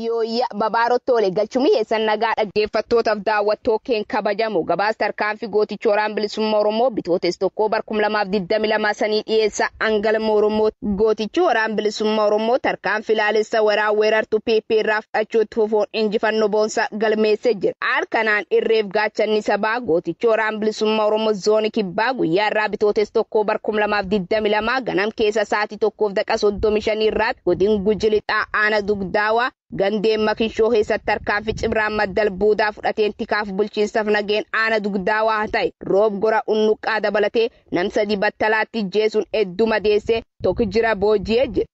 Yooyya babaarotti oole galchumii eessan nagaa dhaggeeffattootaaf daawwattoo keen kabajamu gabaas tarkaanfii gootichi waraana bilisummaa Oromoo bitootes tokkoo bar 2022 sanii dhiyeessa hangalma Oromoo gootichi waraana bilisummaa Oromoo tarkaanfii ilaalessa weeraa weerartu PP irraa fudhachuutti fufuun injifannoo boonsaa galmeessee jira. Haal kanaan irreef gaachanni sabaa gootichi Waraan Bilisumma Oromo Zooni Kibbaa guyyaa irraa Bitootes 1 bar 2022 ganam keessa saati 1:35 irraatti godin Guji Lixaa Aana Dugdaawa gandeen Makishoo keessatti tarkaanfi cibraan maddal buudaa fudhateen tikaaf bulchiinsaf nageen Aana Dugdaawa ta'e Roob Gora Unnuqqaa dabalatee nam 3 battalaatti ijjeesun eddu madeesse tokk jira booji'e jedhe.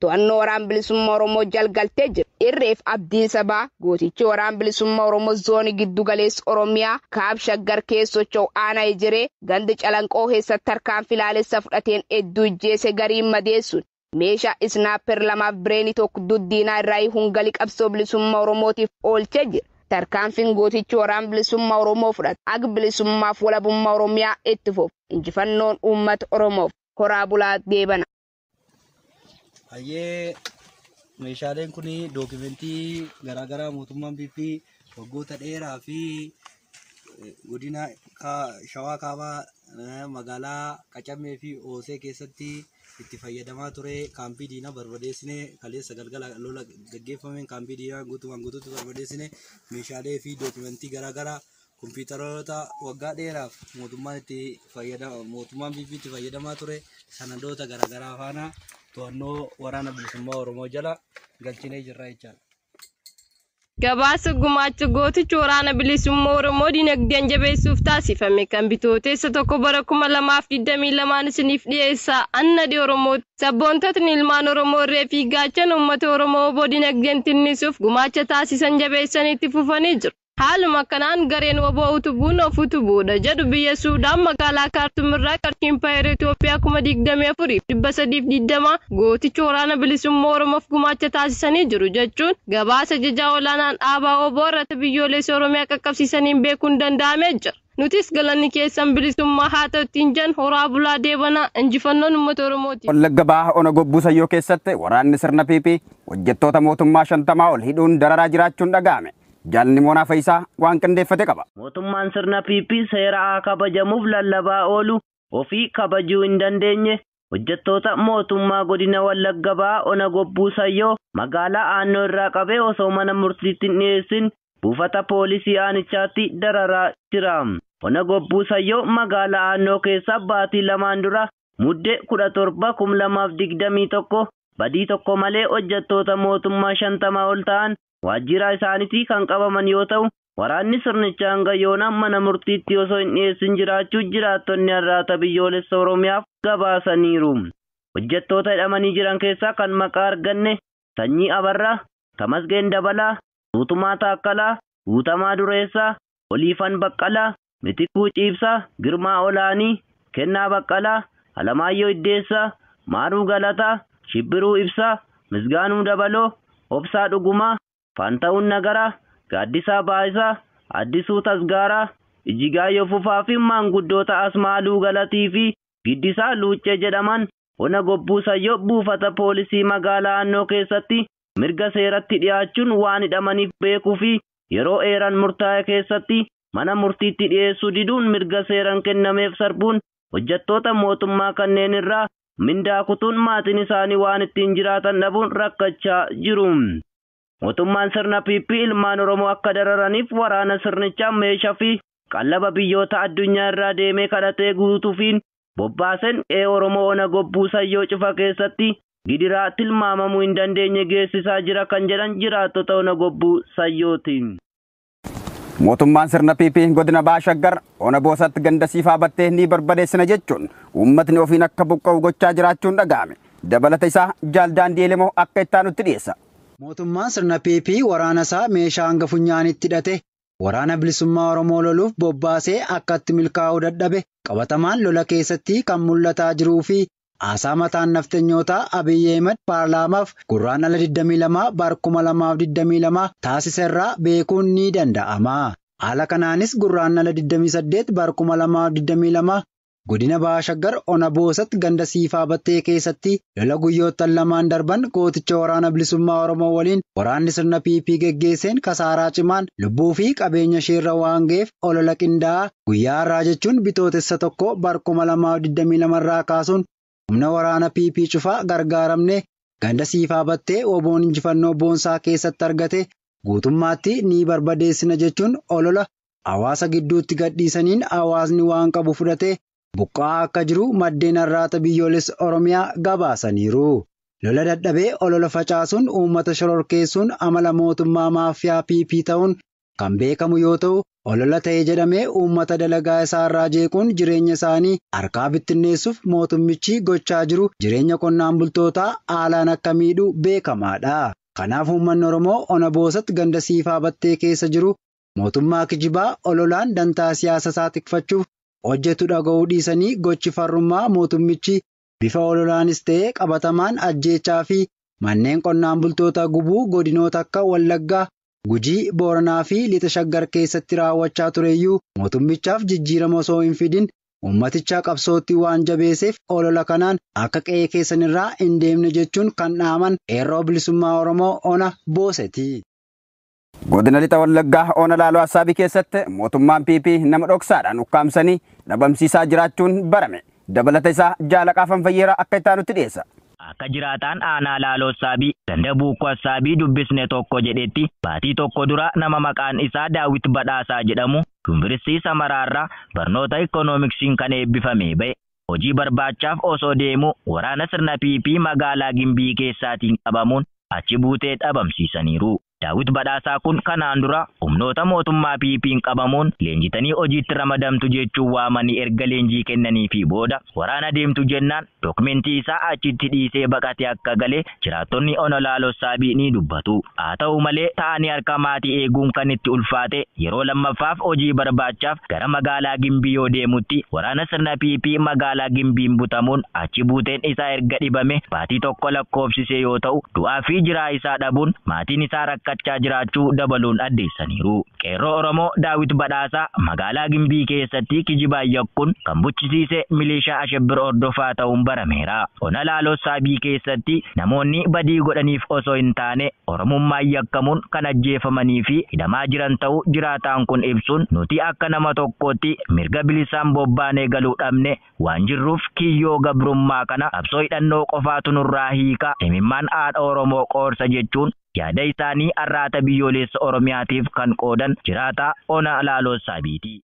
To'annoo Waraan Bilisummaa Oromoo jal galtee jirti. Irreef Abdiin Sabaa, gootichi Waraan Bilisummaa Oromoo Zoonii Giddu Galeessa Oromiyaa, Kaab Shaggar keessa socho'u Aanaa Ejeree, ganda Calanqoo keessatti tarkaanfii laalessa fudhateen hedduu ijjeese gariin madeessuun, meeshaa Isnaapper lamaaf Bireenii tokko dud diinaa irraa hiikuun gali qabsoo bilisummaa Oromootiif oolchee jira. Tarkaanfiin gootichi Waraan Bilisummaa Oromoo fudhate haga bilisummaaf walabummaa Oromiyaa itti fufu. Injifannoon Uummata Oromoof! Horaa bulaa deebanaa! Hayyee meeshaaleen kun dookimentii garaagaraa mootummaan PP waggoota dheeraa fi eh, godina Kaa- shawaa kaabaa eh, magaalaa Qacammee fi Oosee keessatti itti fayyadamaa ture kaampii diinaa barbadeessine kaleessa galgala lola gaggeeffameen kaampii diinaa guutumaan guutuutti barbadeessine meeshaalee fi dookimentii garaagaraa Kompiitaroota waggaa dheeraaf mootummaan itti fayyadama mootummaan PP itti fayyadamaa ture sanadoota garaagaraa faana to'annoo waraana bilisummaa Oromoo jala galchinee jirra jechaadha. Gabaasa gumaacha gootichi waraana bilisummaa Oromoo dinagdeen jabeessuuf taasifame kan bitooteessa tokko bara 2022 isiniif dhiyeessa annadi Oromoo sabboontotni ilmaan Oromoo irree fi gaachana uummata Oromoo oboo dinagdeen tinnisuuf gumaacha taasisan jabeessanii itti fufanii jiru. Haaluma kanaan gareen wbo utubuun of utubuudha jedhu biyya Suudaan magaalaa Kaartum irraa qarshii Impaayera Itoophiyaa 24,320 gooticha Waraana Bilisummaa Oromoof gumaacha taasisanii jiru jechuun gabaasa ajajaa olaanaan dhaabaa wbo irratti biyyooleessa Oromiyaa qaqqabsiisaniin beekuun danda'amee jira. Nutis galanni keessan bilisummaa haa ta'u ittiin jenna. Horaa bulaa deebanaa. Injifannoon uummata Oromooti. Wallagga Baha Ona Gobbuu Sayyoo keessatti waraanni sirna PP hojjettoota mootummaa 50 ol hidhuun dararaa jiraachuun dhaga'ame. Jaal Nimoonaa Fayisaa waan qindeeffate qaba. Mootummaan sirna PP seera haa kabajamuuf lallabaa oolu ofii kabajuu hin dandeenye hojjettoota mootummaa godina Wallagga Bahaa ona Gobbuu Sayyoo magaalaa Aannoo irraa qabee osoo mana murtiitti hin dhiyeessin buufata poolisii aanichaatti dararaa jira. Ona Gobbuu Sayyoo magaalaa Aannoo keessa baatii lamaan dura Mudde 17, 2021 badii tokko malee hojjettoota mootummaa 50 ol ta'an waajjiiraa isaanitii kan qabaman yoo ta'u, waraanni sirnicha hanga yoona mana murtiitti osoo hin dhiyeessin jiraachuu jiraattonni Arraata Biyyoolessa Oromiyaaf gabaasaniiru. Hojjettoota hidhamanii jiran keessaa kan maqaa arganne Sanyii Abarraa, Tamasgeen Dabalaa, Guutumaa Taakkalaa, Guutamaa Dureessaa, Oliifan Baqqalaa, Mitikkuu Ciibsaa, Girmaa Olaanii, Kennaa Baqqalaa, Alamaayyoo Iddeessaa, Maaruu Galataa, Shibbiruu Ibsaa, Misgaanuu Dabaloo, Obsaa Dhugumaa, Faantahun Nagaraa, Gaaddisaa Baayisaa, Addisuu Tasgaaraa, Ijigaayyoo Fufaa fi maanguddoota Asmaaluu Galatii fi Giddisaa Luuccee jedhaman Ona Gobbuu Sayyoo buufata poolisii magaalaa Annoo keessatti mirga seeratti dhiyaachuun waan hidhamaniif beekuu fi yeroo eeran murtaa'e keessatti mana murtiitti dhiyeessuu diduun mirga seeran kennameef sarbuun hojjattoota mootummaa kanneen irraa mindaa kutuun maatiin isaanii waan ittiin jiraatan dhabuun rakkachaa jiru. Mootummaan sirna PP ilmaan Oromoo akka dararaniif waraana sirnichaa meesha fi qallaba biyyoota addunyaa irraa deemee kadhatee guutufiin bobbaasen qe'ee Oromoo Ona Gobbuu Sayyoo Cufa keessatti gidiraa tilmaamamuu hin dandeenye geessisaa jira kan jedhan jiraattota Ona Gobbuu Sayyooti. Mootummaan sirna PP godina Baha Shaggar ona Boosatti ganda Siifaa Battee ni barbadeessina jechuun uummatni ofiin akka buqqa'u gochaa jiraachuun dhaga'ame. Dabalata isaa Jaal Daandii Elemoo akka itti aanutti dhiyeessa. Mootummaan sirna PP waraana isaa meeshaa hanga funyaaniitti hidhate Waraana Bilisummaa Oromoo loluuf bobbaasee akkatti milkaa'uu dadhabe qabatamaan lola keessatti kan mul'ataa jiruu fi Haasaa mataan nafxenyootaa Abiy Ahimad paarlaamaaf Gurraandhala 22 bar 2022 taasise irraa beekuun ni danda'ama. Haala kanaanis Gurraandhala 28 bar 2022 Godina Baha Shaggar Ona Boosat ganda Siifaa Battee keessatti lola guyyoottan lamaan darban gooticha Waraana Bilisummaa Oromoo waliin waraanni sirna PP geggeesseen kasaaraa cimaan lubbuu fi qabeenya isheerra waan ga'eef olola qindaa'aa Guyyaa har'aa jechuun Bitootessa 1 bar 2022 irraa kaasuun humna waraana PP cufaa gargaaramnee ganda Siifaa Battee woboon injifannoo boonsaa keessatti argate guutummaatti ni barbadeessina jechuun olola hawaasa gidduutti gadhiisaniin hawaasni waan qabu fudhatee buqqa'aa akka jiru maddeen Arraata Biyyoolessa Oromiyaa gabaasaniiru. Lola dadhabee olola facaasuun uummata shororkeessuun amala mootummaa maaffiyaa PP ta'uun kan beekamu yoo ta'u, olola ta'e jedhamee uummata dalagaa isaa irraa jeequun jireenya isaanii harkaa bittinneessuuf mootummichi gochaa jiru jireenya qonnaan bultootaa haalaan akka miidhu beekamaa dha. Kanaaf uummanni Oromoo Ona Boosat ganda Siifaa Battee keessa jiru mootummaa kijibaa ololaan dantaa siyaasa isaa tikfachuuf hojjetu dhaga'uu dhiisanii gochi farrummaa mootummichi bifa ololaanis ta'ee qabatamaan ajjeechaa fi manneen qonnaan bultoota gubuu godinoota akka Wallaggaa, Gujii, Booranaa fi Lixa Shaggar keessatti raawwachaa tureyyuu mootummichaaf jijjiirama osoo hin fidin ummaticha qabsootti waan jabeeseef olola kanaan akka qe'ee keessanirraa hin deemne jechuun kan dhaaman Qeerroo Bilisummaa Oromoo Ona Booseti. Godina Lixa Wallaggaa Ona Laaloo Assaabii keessatti mootummaan PP nama dhoksaadhaan ukkaamsanii dhabamsiisaa jiraachuun barame. Dabalata isaa Jaalaqaa Fanfayyeeraa akka itti aanutti dhiyeessa. Akka jiraataan aanaa Laaloo Assaabii ganda Buukkoo Assaabii dubbisne tokko jedhetti baatii tokko dura nama maqaan isaa Daawit Badhaasaa jedhamu Yunviristii Samaraarraa barnoota Ikkonoomiksiin kan eebbifamee ba'e hojii barbaachaaf osoo deemuu waraana sirna PP magaalaa Gimbii keessaatiin qabamuun achi buutee dhabamsiisaniiru. Daawit Badhaasaa kun kanaan dura humnoota mootummaa PP'n qabamuun leenjitanii hojiitti ramadamtu jechuun waamanii erga leenjii kennaniifii booda waraana deemtu jennaan dookmentii isaa achitti dhiisee baqatee akka gale Jiraattonni Ona Laaloo Saabii ni dubbatu. Haa ta'u malee, taa'anii harka maatii eeguun kan itti ulfaate yeroo lammaffaaf hojii barbaachaaf gara magaalaa Gimbii yoo deemutti waraana sirna PP magaalaa Gimbiin butamuun achi buuteen isaa erga dhibame baatii tokko lakkoofsisee yoo ta'u, du'aa fi jiraa isaa dhabuun maatiin isaa rakkachaa jiraachuu dabaluun addeessaniiru. Qeerroo Oromoo Daawit Badhaasaa magaalaa Gimbii keessatti kijibaan yakkuun kan buchisiise milishaa Ashebbir Hordofaa ta'uun barameera. Ona Laaloo Saabii keessatti namoonni badii godhaniif osoo hin taane Oromummaan yakkamuun kan ajjeefamanii fi hidhamaa jiran ta'uu jiraataan kun ibsuun nuti akka nama tokkootti mirga bilisaan bobbaanee galuu dhabne waan jirruuf kiyyoo gabrummaa kana qabsoo hidhannoo qofaatu nurraa hiika, imimmaan haadha Oromoo qoorsa jechuun yaada isaanii Arraata Biyyooleessa Oromiyaatiif kan qoodan jiraataa Ona Laaloo Saabiiti.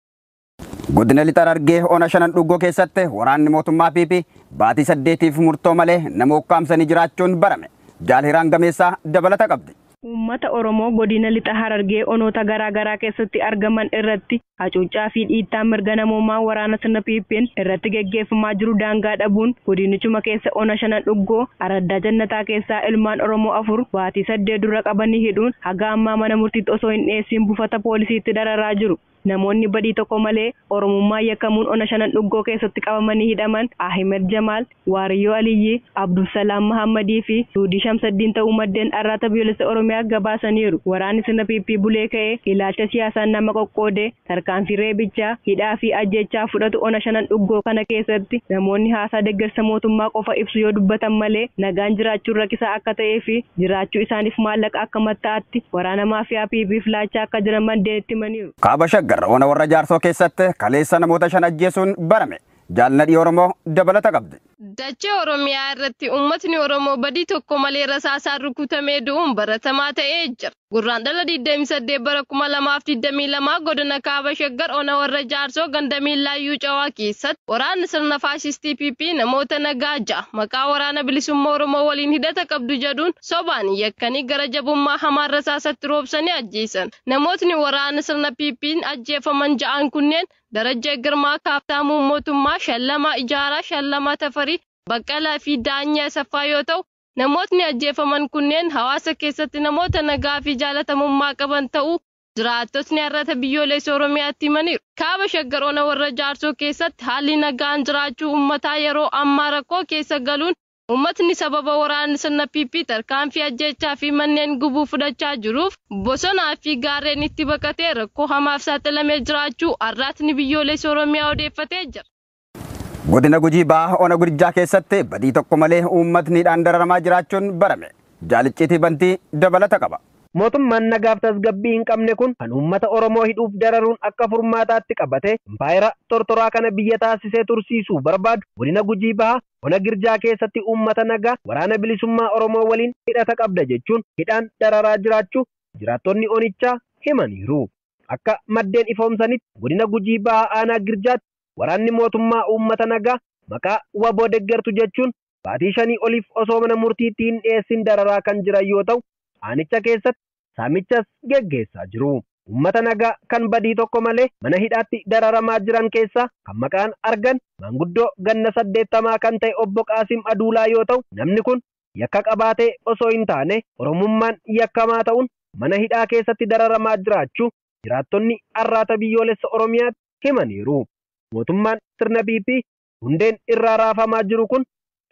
Godina Lixa Harargee Ona Shanan Dhuggoo keessatti waraanni mootummaa PP baatii saddeetiif murtoo malee nama ukkaamsanii jiraachuun barame. Jaal Hiraan Gameessaa dabalata qabdi. Uummata Oromoo Godina Lixa Harargee onoota garaa garaa keessatti argaman irratti hacuuccaa fi dhiittaan mirga namoomaa waraana sirna PP'n irratti geggeeffamaa jiru daangaa dhabuun godinichuma keessa Ona Shanan Dhuggoo araddaa Jannataa keessaa ilmaan Oromoo afur baatii saddeet dura qabanii hidhuun haga ammaa mana murtiitti osoo hin dhiyeessiin buufata poolisiitti dararaa jiru. Namoonni badii tokko malee Oromummaan yakkamuun Ona Shanan Dhuggoo keessatti qabamanii hidhaman Ahimed Jamaal, Waariyoo Aliyyii, Abdulsalaam Mahaammadii fi Suudii Shamsaddiin ta'uu maddeen Arraata Biyyoolessa Oromiyaaf gabaasaniiru. Waraanni sirna PP bulee ka'e ilaalcha siyaasaan nama qoqqoodee tarkaanfii reebichaa, hidhaa fi ajjeechaa fudhatu Ona Shanan Dhuggoo kana keessatti namoonni haasaa deggersa mootummaa qofa ibsu yoo dubbatan malee nagaan jiraachuun rakisaa akka ta'ee fi jiraachuu isaaniif maallaqa akka matta'aatti waraana maafiyaa PP'f laachaa akka jiran maddeen itti himaniiru. Kaaba Shaggar ona Warra Jaarsoo keessatti kaleessa namoota shan ajjeesuun barame. Jaal Nadhii Oromoo dabalata qabdi. Dachee Oromiyaa irratti uummatni Oromoo badii tokko malee rasaasaan rukutamee du'uun baratamaa ta'ee jira. Gurraandhala 28 bara 2022 godina Kaaba Shaggar ona Warra Jaarsoo ganda Miillaayyuu Cawaa keessatti waraanni sirna faashistii PP namoota nagaa ja'a maqaa waraana bilisummaa Oromoo waliin hidhata qabdu jedhuun sobaan yakkanii gara jabummaa hamaan rasaasatti roobsanii ajjeesan. Namootni waraana sirna PP'n ajjeefaman ja'an kunneen Darajjee Girmaa, Kaaftaamuu Mootummaa, Shallamaa Ijaaraa, Shallamaa Tafarii, Baqqalaa fi Daanyee Asaffaa yoo ta'u, namootni ajjeefaman kunneen hawaasa keessatti namoota nagaa fi jaalatamummaa qaban ta'uu jiraattotni Arrata Biyyooleessa Oromiyaatti himaniiru. Kaaba Shaggar Ona Warra Jaarsoo keessatti haalli nagaan jiraachuu ummataa yeroo ammaa rakkoo keessa galuun Uummatni sababa waraanni sirna PP tarkaanfii ajjeechaa fi manneen gubuu fudhachaa jiruuf bosonaa fi gaarreenitti baqatee rakkoo hamaaf saaxilamee jiraachuu Arraatni Biyyoolessa Oromiyaa odeeffatee jira. Godina Gujii Bahaa Ona Gurjaa keessatti badii tokko malee uummatni hidhaan dararamaa jiraachuun barame. Jaal Icciitii Bantii dabalata qaba. Mootummaan nagaaf tasgabbii hin qabne kun kan uummata Oromoo hidhuuf dararuun akka furmaataatti qabatee impaayera tortoraa kana biyya taasisee tursiisuu barbaadu Godina Gujii Bahaa Ona Girjaa keessatti uummata nagaa Waraana Bilisummaa Oromoo waliin hidhata qabda jechuun hidhaan dararaa jiraachuu jiraattonni onichaa himaniiru. Akka maddeen ifoomsanitti Godina Gujii Bahaa Aanaa Girjaatti waraanni mootummaa uummata nagaa maqaa wbo deggertu jechuun baatii shanii oliif osoo mana murtiitti hin dhiyeessin dararaa kan jiran yoo ta'u, aanicha keessatti saamichas geggeessaa jiru. Uummata nagaa kan badii tokko malee mana hidhaatti dararamaa jiran keessaa kan maqaan argan maanguddoo ganna 80 kan ta'e Obbo Qaasim Aduulaa yoo ta'u, namni kun yakka qabaatee osoo hin taane Oromummaan yakkamaa ta'uun mana hidhaa keessatti dararamaa jiraachuu jiraattonni Arraata Biyyoolessa Oromiyaatti himaniiru. Mootummaan sirna PP hundeen irraa raafamaa jiru kun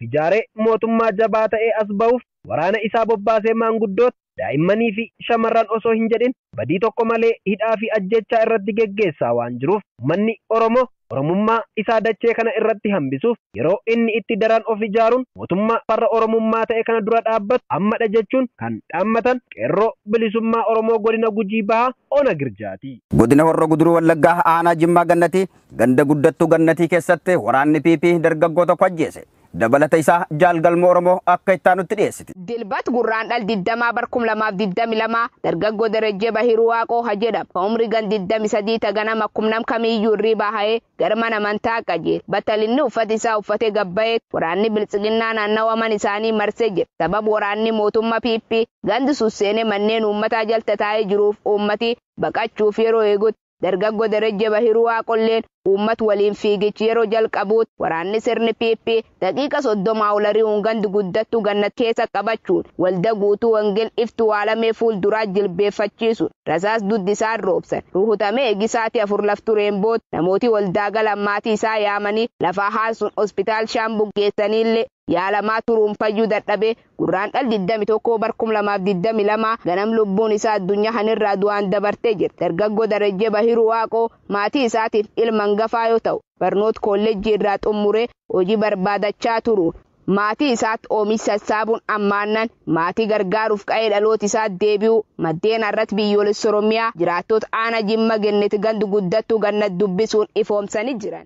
ijaaree mootummaa jabaa ta'ee as bahuuf waraana isaa bobbaasee maanguddoota, daa'immanii fi shamarran osoo hin jedhin badii tokko malee hidhaa fi ajjeechaa irratti geggeessaa waan jiruuf ummanni Oromoo Oromummaa isaa dachee kana irratti hambisuuf yeroo inni itti daran of ijaaruun mootummaa farra Oromummaa ta'e kana dura dhaabbatu amma dha jechuun kan dhaammatan Qeerroo Bilisummaa Oromoo Godina Gujii Bahaa Ona Girjaati. Godina Horro Guduruu Wallaggaa Aanaa Jimmaa Gannatii Ganda Guddattuu Gannatii keessatti waraanni PP dargaggoo tokko ajjeese. Dabalata isaa Jaal Galmoo Oromoo akka itti aanutti dhiyeessiti. Dilbat Gurraandhal 20 bar 2022 dargaggoo Darajjee Bahiruu Waaqoo ka jedhamu ka umrii gan 23 ta ganama akkum nam kamiiyyuu irriibaa ka'ee gara mana amantaa qajeele. Battalinni uffata isaa uffatee gad baheetti waraanni Biltsiginnaa naannawa mana isaanii marsee jira. Sababa waraanni mootummaa PP gandi sun seenee manneen uummataa jal tataa'ee jiruuf uummati baqachuuf yeroo eegutti Dargaggo Derejje Bahiruu Waaqolleen uummat waliin fiigichi yeroo jalqabuutti waraanni sirni PP daqiiqa 30 ol ari'uun gand guddattuu Gannat keessa qabachuun walda Guutuu Wangel Iftuu Aalamee fuul duraa jilbeeffachiisuun rasaas dudd isaan roobsan. Ruhutamee egi saati 4 laf tureen booda namooti waldaa galan maatii isaa yaamanii lafaa haansuun Hospitaal Shaambuu geessaniillee yaalamaa turuun fayyuu dadhabee Gurraandhal 21 bar 2022 ganam lubbuun isaa addunyaa kan irraa du'aan dabartee jirti. Dargaggoo Darajjee Bahiruu Waaqoo maatii isaatiif ilma hangafaa yoo ta'u, barnoota koollejjii irraa xummuree hojii barbaadachaa turuun maatii isaatti oomish sassaabuun ammaannan maatii gargaaruuf qa'ee dhaloota isaatti deebi'uu maddeen Arrat Biyyoolessa Oromiyaa jiraattoota Aanaa Jimma Genneti Gand Guddattuu Gannat dubbisuun ifoomsanii jiran.